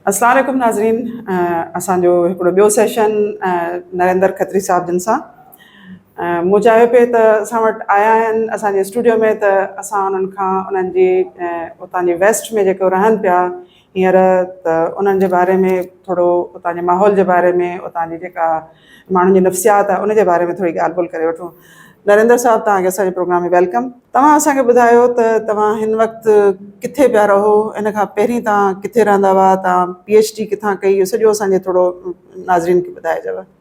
السلام عليڪم ناظرين اسان جو هڪڙو ٻيو سيشن نريندر کتري صاحب جن سان مون چاهيو پئي ته اسان وٽ آيا آهن اسان جي اسٽوڊيو ۾ ته اسان انهن کان انهن جي اتان جي ويسٽ ۾ جيڪو رهن پيا هينئر ته انهن جي باري ۾ ٿورو اتان جي ماحول جي باري ۾ اتان جي جيڪا ماڻهن جي نفسيات آهي ان جي باري ۾ ٿوري ڳالهه ٻولهه ڪري وٺون. نريندر صاحب توهان کي اسان جي پروگرام ۾ ويلڪم. توهان اسان کي ٻڌايو ته توهان هن وقت ڪٿي پيا رهو ان کان پهرين توهان ڪٿي رهندا هئا توهان پي ايڇ ڊي ڪٿان ڪئي اهو سڄو اسان جي ٿورو ناظرين کي ٻڌائجو.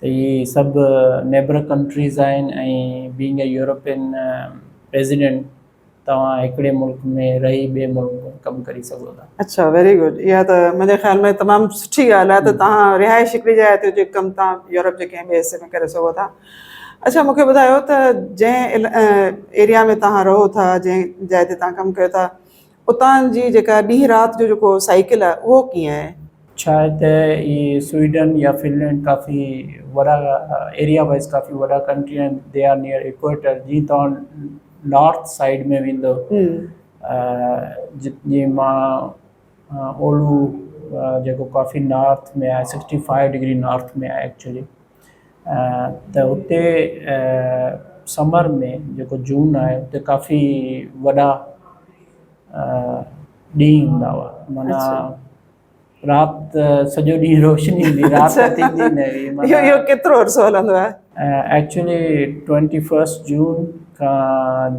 ته اهي سڀ نيبر ڪنٽريز آهن ۽ بينگ اي يورپين پريزيڊنٽ توهان هڪڙي ملڪ ۾ رهي ٻئي ملڪ ۾ ڪم ڪري سگهو ٿا. اڇا ويري گڊ اها ته منهنجي خيال ۾ تمام سٺي ڳالهه آهي ته توهان رهائش هڪڙي جاء تي هجي ڪم توهان يورپ جي ڪنهن ٻئي حصي ۾ ڪري سگهو ٿا اڇا مونکي ٻڌايو ته جنهن ايريا ۾ توهان رهو ٿا جنهن جاء تي توهان ڪم ڪيو ٿا اتان جي جيڪا ڏينهن رات جو جيڪو سائيڪل آهي اهو ڪيئن آهي؟ ڇا آهي ته اهي سوئيڊن يا فنلينڊ ڪافي وڏا ايريا وائيز ڪافي وڏا ڪنٽري آهن دي آر نيئر ايڪوئيٽر جي توهان نارٿ سائيڊ ۾ ويندو جي مان اولهو جيڪو ڪافي نارٿ ۾ آهي سڪسٽي فائيو ڊگري نارٿ ۾ آهي ايڪچولي ته اتي سمر ۾ جيڪو جون آهي اتي ڪافي وڏا ڏينهن هوندا هئا معنيٰ رات سڄو ڏينهن روشني هوندي رات ٿيندي نه هئي اهو ڪيترو عرصو هلندو آهي ايڪچولي ٽوئنٽي فرسٽ جون کان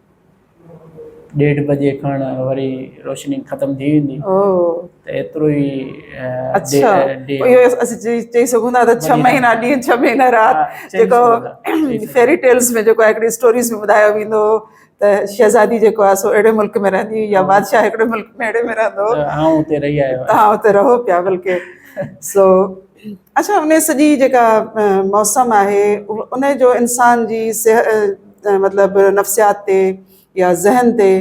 ڏيڍ بجي کان وري روشني ختم ٿي ويندي او ته ايترو ئي اچھا اهو اسين چئي سگهون ٿا ته ڇهه مهينا ڏينهن ڇهه مهينا رات جيڪو فيري ٽيلز ۾ جيڪو هڪڙي اسٽوريز ۾ ٻڌايو ويندو هو ته شهزادي جيڪو آهي سو اهڙي ملڪ ۾ رهندي يا بادشاهه هڪڙي ملڪ ۾ اهڙي ۾ رهندو هو آئون اتي رهي آيو آهيان آئون اتي رهو پيا بلڪه سو اچا ان سڄي جيڪا موسم آهي ان جو انسان جي صحت مطلب نفسيات تي يا ذهن تي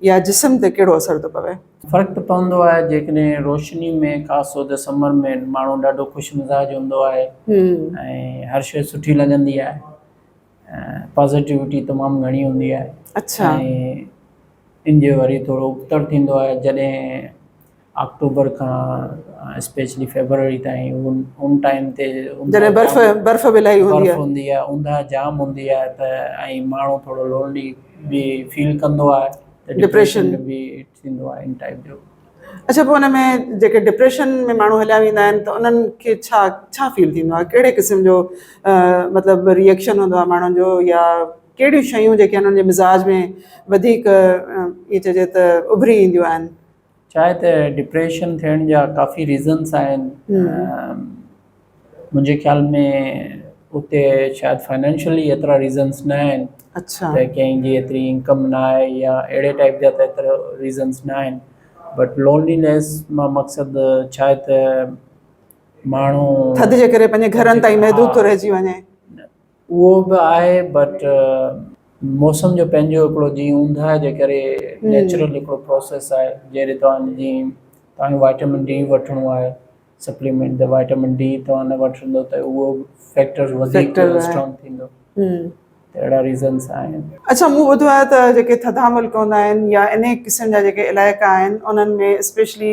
يا جسم تي ڪهڙو اثر ٿو پوي. فرق ته پوندو آهي جيڪڏهن روشني ۾ خاص طور تي سمر ۾ ماڻهو ڏاڍو خوش مزاج هوندو آهي ۽ هر شيء سٺي لڳندي آهي پازيٽوٽي تمام گهڻي هوندي آهي ۽ ان جو وري ٿورو ابتڙ ٿيندو آهي جڏهن آڪٽوبر کان اسپيشلي فيبروري تائين ان ان ٽائيم تي جڏهن برف برف به الاهي هوندي برف هوندي آهي اونداهه جام هوندي آهي ته ۽ ماڻهو ٿورو لونلي به فيل ڪندو آهي ته ڊپريشن به ٿيندو آهي ان ٽائيپ جو اچھا پوء ان ۾ جيڪي ڊپريشن ۾ ماڻهو هليا ويندا آهن ته انهن کي ڇا ڇا فيل ٿيندو آهي ڪهڙي قسم جو مطلب ريئڪشن هوندو آهي ماڻهن جو يا ڪهڙيون شيون جيڪي انهن جي مزاج ۾ وڌيڪ ائين چئجي ته اڀري اينديون آهن ڇا آهي ته ڊپريشن ٿيڻ جا ڪافي ريزنس آهن منهنجي خيال ۾ اتي شايد فائنينشلي ايترا ريزنس نه آهن اڇا ته ڪنهن جي ايتري انڪم نه آهي يا اهڙي ٽائيپ جا ته ايترا ريزنس نه آهن بٽ لونلينيس مان مقصد ڇا آهي ته ماڻهو ٿڌ جي ڪري پنهنجي گهرن تائين محدود ٿو رهجي وڃي اهو به آهي بٽ موسم جو پنهنجو هڪڙو جي اونداهه جي ڪري نيچرل هڪڙو پروسيس آهي جهڙي توهان جي توهان وائٽامن ڊي وٺڻو آهي سپليمينٽ ته وائٽامن ڊي توهان نه وٺندو ته اهو فيڪٽر وڌيڪ اسٽرانگ ٿيندو اهڙا ريزنس آهن اڇا مون ٻڌو آهي ته جيڪي ٿڌا ملڪ هوندا آهن يا انهي قسم جا جيڪي علائقا آهن انهن ۾ اسپيشلي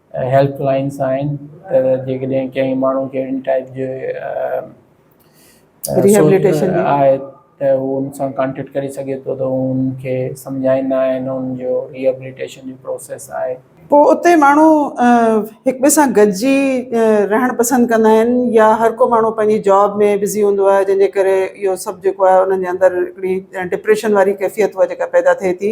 هيلپ لائينس آهن ته جيڪڏهن ڪنهن ماڻهو کي اهڙي ٽائيپ جي ريهيبليٽيشن جي آهي ته هو ان سان ڪانٽيڪٽ ڪري سگهي ٿو ته هو ان کي سمجهائيندا آهن ان جو ريهيبليٽيشن جو پروسيس آهي. پوء اتي ماڻهو هڪ ٻئي سان گڏجي رهڻ پسند ڪندا آهن يا هر ڪو ماڻهو پنهنجي جاب ۾ بزي هوندو آهي جنهن جي ڪري اهو سڀ جيڪو آهي انهن جي اندر هڪڙي ڊپريشن واري ڪيفيت هوء جيڪا پيدا ٿئي ٿي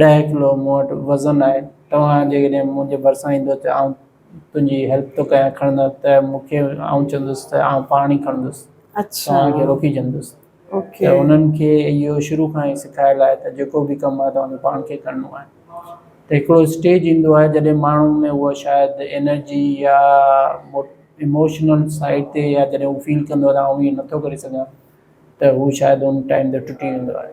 ڏهه ڪلو مون وٽ وزن آهي توهان جيڪڏهن منهنجي ڀرسان ايندو ته آئون تنهنجي هيلپ ٿو ڪيان کڻندو ته مون کي آئون چوندس ته آئون پاڻ ئي کڻندس توهان کي روڪي ڇڏندس ته انهن کي اهو شروع کان ئي سکايل آهي ته جيڪو به ڪم آهي توهان کي پاڻ کي ڪرڻو آهي ته هڪڙو اسٽيج ايندو آهي جڏهن ماڻهو ۾ هو شايد انرجي يا اموشنل سائيڊ تي يا جڏهن هو فيل ڪندو آهي ته آئون هي نٿو ڪري سگهان ته هو شايد ان ٽائيم تي ٽٽي ويندو آهي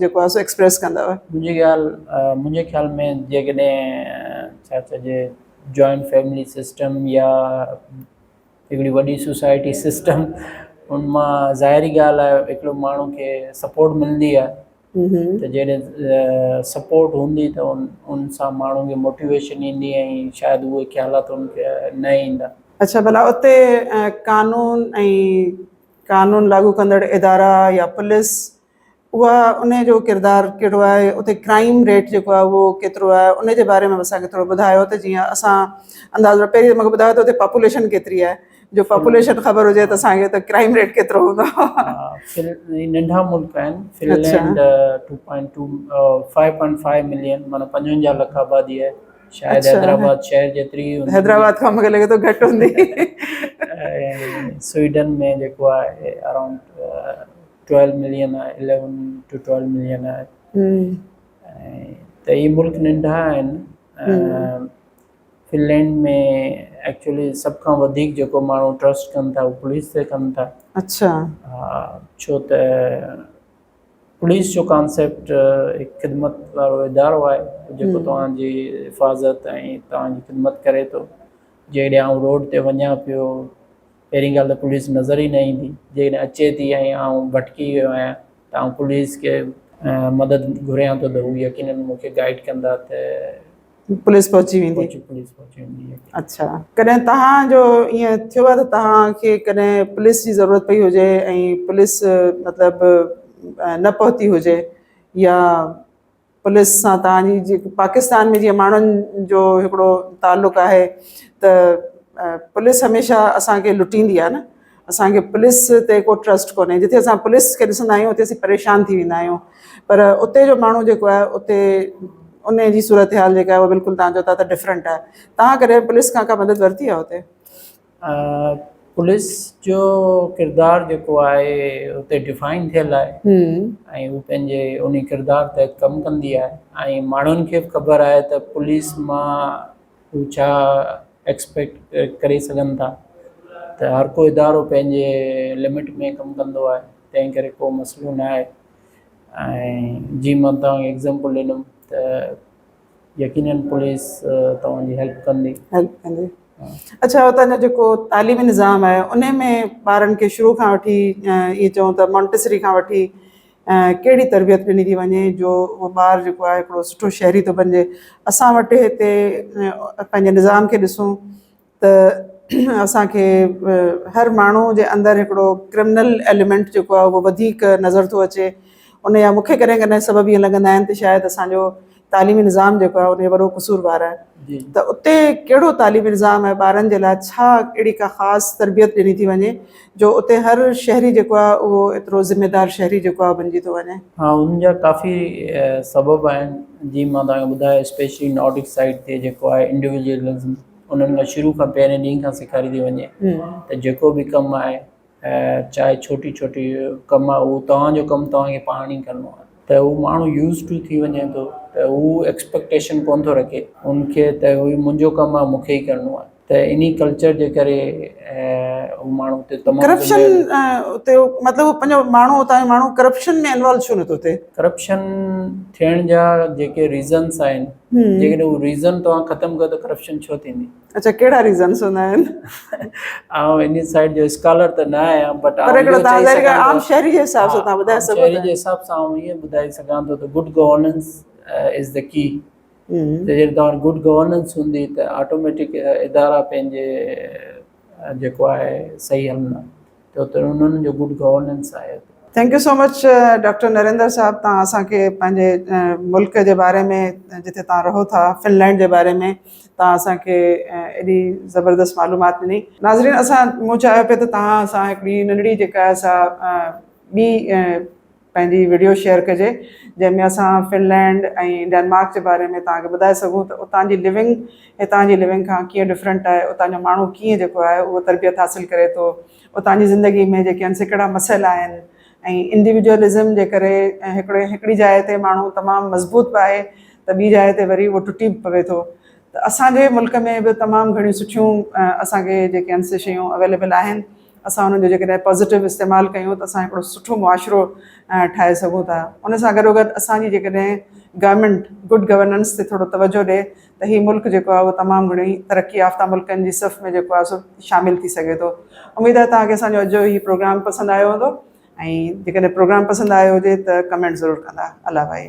جيڪو آهي سو ايڪسپريس ڪندؤ. منهنجي خيال منهنجي خيال ۾ جيڪڏهن ڇا چئجي جوائنٽ فيملي سسٽم يا هڪڙي وڏي سوسائٽي سسٽم ان مان ظاهري ڳالهه آهي هڪڙو ماڻهو کي سپورٽ ملندي آهي ته جيڏي سپورٽ هوندي ته ان ان سان ماڻهو کي موٽيويشن ايندي ۽ شايد اهي خيالات ان کي نه ايندا. اڇا ڀلا اتي قانون ۽ قانون لاڳو ڪندڙ ادارا يا پوليس اها ان جو ڪردار ڪهڙو آهي اتي ڪرائيم ريٽ جيڪو آهي اهو ڪيترو آهي ان جي باري ۾ به اسانکي ٿورو ٻڌايو ته جيئن اسان اندازو پهرين ته مونکي ٻڌايو ته اتي پاپوليشن ڪيتري آهي جو پاپوليشن خبر هجي ته اسانکي ته ڪرائيم ريٽ ڪيترو هوندو ننڍا ملڪ آهن Finland two point two five point five million معنيٰ پنجونجاهه لک آبادي آهي شايد حيدرآباد شهر جيتري حيدرآباد کان مونکي لڳي ٿو گهٽ هوندي سوئيڊن ۾ جيڪو آهي اراؤنڊ ٽويلو ملين آهي اليون ٽو ٽويلو ملين آهي ته هي ملڪ ننڍا آهن فنلينڊ ۾ ايڪچولي سڀ کان وڌيڪ جيڪو ماڻهو ٽرسٽ ڪن ٿا اهو پوليس تي ڪن ٿا اچھا ها ڇو ته پوليس جو ڪانسيپٽ هڪ خدمت وارو ادارو آهي جيڪو توهانجي حفاظت ۽ توهانجي خدمت ڪري ٿو جيڪڏهن آئون روڊ تي وڃان پيو پهرين ڳالهه ته پوليس نظر ئي نه ايندي، جيڪڏهن اچي ٿي ۽ آئون ڀٽڪي ويو آهيان ته آئون پوليس کي مدد گهريان ٿو ته هو يقينن مون کي گائيڊ ڪندا ته پوليس پهچي ويندي. پوليس پهچي ويندي يقينن. اڇا ڪڏهن توهان جو ائين ٿيو آهي ته توهان کي ڪڏهن پوليس جي ضرورت پئي هجي ۽ پوليس مطلب نه پهتي هجي يا پوليس سان توهان جي جيڪو پاڪستان ۾ جيئن ماڻهن جو هڪڙو تعلق آهي ته پوليس هميشه اسان کي لٽيندي آهي نه اسان کي پوليس تي ڪو ٽرسٽ ڪونهي جتي اسان پوليس کي ڏسندا آهيون اتي اسين پريشان ٿي ويندا آهيون پر اتي جو ماڻهو جيڪو آهي اتي ان جي صورتحال جيڪا آهي اهو بلڪل تان جو تان ته ڊفرنٽ آهي تان ڪڏهن پوليس کان ڪا مدد ورتي آهي اتي پوليس جو ڪردار جيڪو آهي اتي ڊفائن ٿيل آهي ۽ هو پنهنجي انهي ڪردار تحت ڪم ڪندي آهي ۽ ماڻهن کي به خبر آهي ته پوليس مان هو ڇا ايڪسپيڪٽ ڪري سگهن ٿا ته هر ڪو ادارو پنهنجي لمٽ ۾ ڪم ڪندو آهي تنهن ڪري ڪو مسئلو ناهي ۽ جي مان تنهن ايڪزامپل ڏنم ته يقينن پوليس توهان جي هيلپ ڪندي. هيلپ ڪندي اڇا هتان جو جيڪو تعليمي نظام آهي ان ۾ ٻارن کي شروع کان وٺي ائين چئون ته مونٽيسري کان وٺي ڪهڙي تربيت ڏني ٿي وڃي جو اهو ٻار جيڪو آهي هڪڙو سٺو شهري ٿو بنجي اسان وٽ هتي پنهنجي نظام کي ڏسون ته اسان کي هر ماڻهو جي اندر هڪڙو ڪرمنل ايليمنٽ جيڪو آهي اهو وڌيڪ نظر ٿو اچي ان جا مون کي ڪڏهن ڪڏهن سبب ائين لڳندا آهن ته شايد اسانجو تعليمي نظام جيڪو آهي ان جو وڏو قصوروار آهي ته اتي ڪهڙو تعليمي نظام آهي ٻارن جي لاء ڇا اهڙي ڪا خاص تربيت ڏني ٿي وڃي جو اتي هر شهري جيڪو آهي اهو ايترو ذميدار شهري جيڪو آهي بنجي ٿو وڃي. ها ان جا ڪافي سبب آهن جي مان توهان کي ٻڌايو اسپيشلي نارڊڪ سائيڊ تي جيڪو آهي انڊيوجلزم انهن کان شروع کان پهرين ڏينهن کان سيکاري ٿي وڃي ته جيڪو به ڪم آهي چاهي ڇوٽي ڇوٽي ڪم آهي اهو توهان جو ڪم توهان کي پاڻ ئي ڪرڻو آهي ته اهو ماڻهو يوز ٽو ٿي وڃي ٿو ته هو ايڪسپيڪٽيشن ڪونه ٿو رکي ان کي ته اهو ئي منهنجو ڪم آهي مون کي ئي ڪرڻو آهي ته ان ئي ڪلچر جي ڪري هو ماڻهو اتي تمام ڪرپشن اتي مطلب پنهنجو ماڻهو اتان جو ماڻهو ڪرپشن ۾ انوالو ڇو نٿو ٿئي ڪرپشن ٿيڻ جا جيڪي ريزنس آهن جيڪڏهن هو ريزن توهان ختم ڪيو ته ڪرپشن ڇو ٿيندي اچا ڪهڙا ريزنس هوندا آهن آئون ان سائيڊ جو اسڪالر ته نه آهيان بٽ پر هڪڙو تازه هڪ عام شهري جي حساب سان تان ٻڌائي سگهو شهري جي حساب سان آئون ائين ٻڌائي سگهان ٿو ته good governance is the key ته جڏهن توهان گڊ گورننس هوندي ته آٽوميٽڪ ادارا پنهنجي جيڪو آهي صحيح عمل ته تن انهن جو گڊ گورننس آهي. Thank you so much doctor Narendra صاحب توهان اسان کي پنهنجي ملڪ جي باري ۾ جتي توهان رهو ٿا فنلينڊ جي باري ۾ توهان اسان کي ايڏي زبردست معلومات ڏني ناظرين اسان مون چاهيو پي ته توهان سان هڪڙي ننڍڙي جيڪا سا ٻي پنهنجي وڊيو شيئر ڪجي جنهن ۾ اسان فنلينڊ ۽ ڊينمارڪ جي باري ۾ توهان کي ٻڌائي سگهون ته اتان جي لوينگ هتان جي لوينگ کان ڪيئن ڊفرنٽ آهي اتان جو ماڻهو ڪيئن جيڪو آهي اهو تربيت حاصل ڪري ٿو اتان جي زندگي ۾ جيڪي آهن سي ڪهڙا مسئلا آهن ۽ انڊيوجوئلزم جي ڪري هڪڙي هڪڙي جاء تي ماڻهو تمام مضبوط به آهي ته ٻي جاء تي وري اهو ٽٽي به پوي ٿو ته اسان جي ملڪ ۾ به تمام گهڻيون سٺيون اسان کي جيڪي آهن سي شيون اويليبل آهن اسان انهن جو جيڪڏهن پازيٽو استعمال ڪيون ته اسان هڪڙو سٺو معاشرو ٺاهي سگهون ٿا ان سان گڏو گڏ اسان جي جيڪڏهن گورنمينٽ گڊ گورننس تي ٿورو توجهه ڏي ته هي ملڪ جيڪو آهي اهو تمام گهڻي ترقي يافته ملڪن جي صف ۾ جيڪو آهي سو شامل ٿي سگهي ٿو اميد آهي توهان کي اسان جو اڄ جو هي پروگرام پسند آيو هوندو ۽ جيڪڏهن پروگرام پسند آيو هجي ته ڪمينٽ ضرور ڪندا الله بائي